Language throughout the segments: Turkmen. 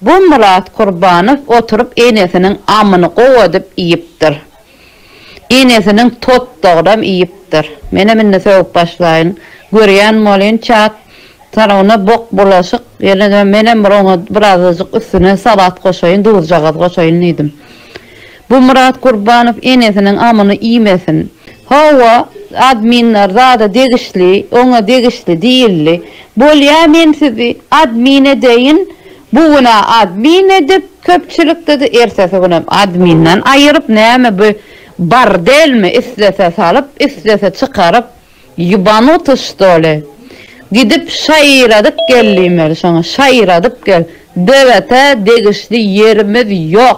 Bu Myrat Kurbanow oturyp enesiniň amyny gowy edip iýipdir. Enesiniň totdagyram iýipdir. Menem indi sögüp başlaýyn. Görýän bolýyn çat tarabynda bok bulaşyk. Ýöne-de menem bir oňa birazajyk üstüne salat goşaýyn, duzjagaz goşaýyn diýdim. Bu Myrat Gurbanow enesiniň amyny iýmesin. Hawa, adminler zada degişli, oňa degişli diýildi. Bolýa men sizi admin edeýin, bu gün-ä admin edip, köpçülikde-de, ertesi günem adminden aýyryp, näme bu bardelmi, islese salyp, islese çykaryp, ýubanuty ştoli? Gidip şaýyradyp gel diýmeli şoňa, şaýyradyp gel. Döwete degişli ýerimiz ýok.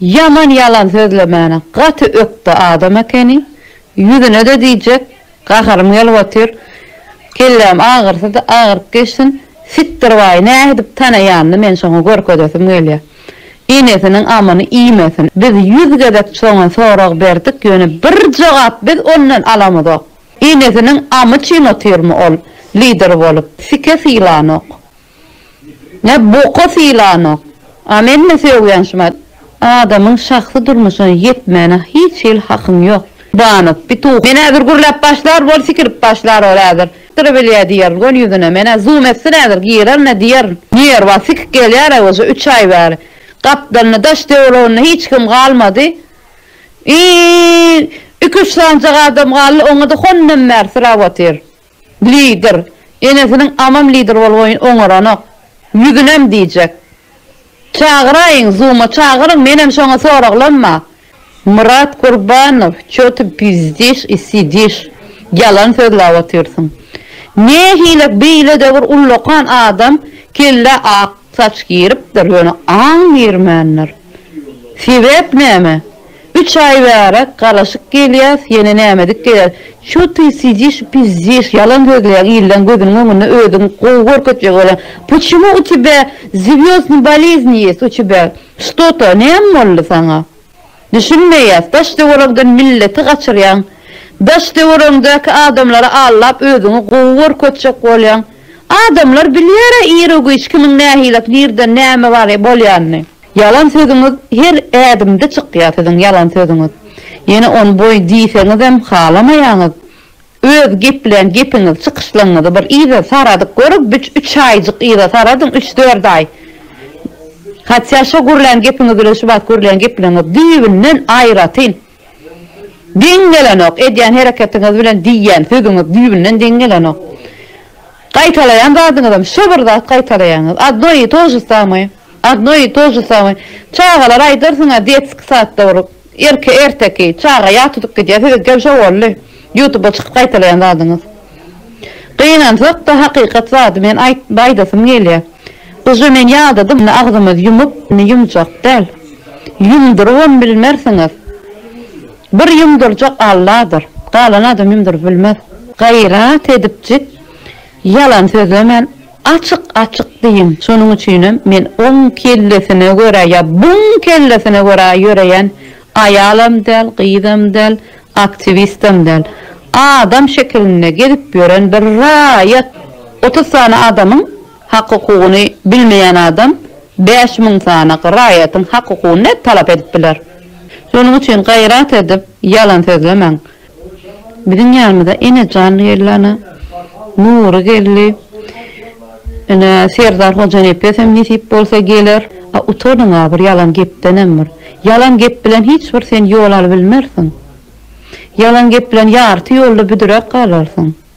Ýaman ýalan sözlemäne gaty ökde adam ekeni ýüzünede diýjek gaharym gelip otyr kelläm agyrsy agyryp geçsin sitdir baý nädip tanaýanyny men şoňa görkezesim gelýä enesiniň amyny iýmesin biz ýüz gezek şoňa sorag berdik ýöne bir jogap biz ondan alamyzok enesiniň amy çyn otyrmy ol lider bolup sike sylanok Ne boka sylanok. A menmi sögýän şumat. Adamyň şahsy durmuşyna ýetmäne hiç hili hakyň ýok. Banow pituh. Men häzir gürläp başlar bol sikirip başlar ol häzir. Dyry bilýä diýerin göni ýüzüne. Menä zoom etsin häzir girerine diýerin. Nerwa sikik gelýär a oje üç aý bäri. Gapdalynda daş döwreginde hiç kim galmady. Iiiiiiiiiiiiii iki üç sanjak adam galdy oňada hondan bäri syrap otyr. Lider. Enesiniň amam lider bolboýun oňaranok. Ýüzünem diýjek. Çagyraýyň, Zuma çagyryň, menem şoňa soraglanma. Myrat Gurbanow, Ço ty pizdişş i sidişş, ýalan sözläp otyrsyň. Nähilek beýle-de bir ullakan adam, kellä ak. Saç giripdir, ýöne aň girmändir. Sebäp näme? Üç aý bäri garaşyk gelýäs, ýene nämedik gelýär. Ço ty sidiş, pizdiş, ýalan sözleýäň, illeň gözüniň öňünde özüň gowy görkezjek bolýaň. Puçimo u tebä zywýozdny bolezni ýes u tebä? Şto to, näme boldy saňa? Düşünmeýäs daş töweregden milleti gaçyrýaň daş töweregiňdäki adamlary allap özüňi gowy görkezjek bolýaň adamlar bilýärä ire güýç kimiň nähilak nirden näme bar bolýanyny. Ýalan sözüňiz her ädimde çykýa siziň ýalan sözüňiz ýene on boý diýseňizem halamaýaňyz. Öz geplän gepiňizi çykyşlaňyzy bir yza saradyp görüň büç üç aýjyk yza saradyň üç dört aý hatýa şo gürlän gepiňiz bilen şu bat gürlän gepleriňiz düýbünden aýratyn deň gelenok edýän hereketiňiz bilen diýýän sözüňiz düýbünden deň gelenok gaýtalaýan zadyňyzam şo bir zat gaýtalaýaňyz adno i tože samoe adno i tože samoe çagalara aýdarsyňa detski sad da bir Irki erteki çaga ýag tutup gidýär size gel şo boldy ýutuba çykyp gaýtalaýan zadyňyz gynansakda hakykat zady men aýytyp aýdasym gelýär gyja men ýadadym indi agzymyz ýumup indi ýumjak däl ýumdyrybam bilmersiňiz bir ýumdyrjak alladyr galan adam ýumdyryp bilmez gaýrat edipjik Ýalan sözlemän açyk açyk diýiň şonuň üçinem men oň kellesine görä ýa buň kellesine görä ýöreýän aýalam däl gyzam däl aktiwistam däl adam şekilinde gezip ýören bir raýat otuz sany adamyň hak hukugyny bilmeýän adam bäş müň sany raýatyň hak hukugyny nädip talap edip biler şonuň üçin gaýrat edip ýalan sözlemäň Biziň ýanymyza Enejan geldi ana. Nury geldi. Ine, Serdar Hojanepesem nesip bolsa geler. A utandyň-a bir ýalan gepdenem bir. Ýalan gep bilen hiç bir sen ýol alybilmersiň. Ýalan gep bilen ýarty ýolda büdräp galarsyň.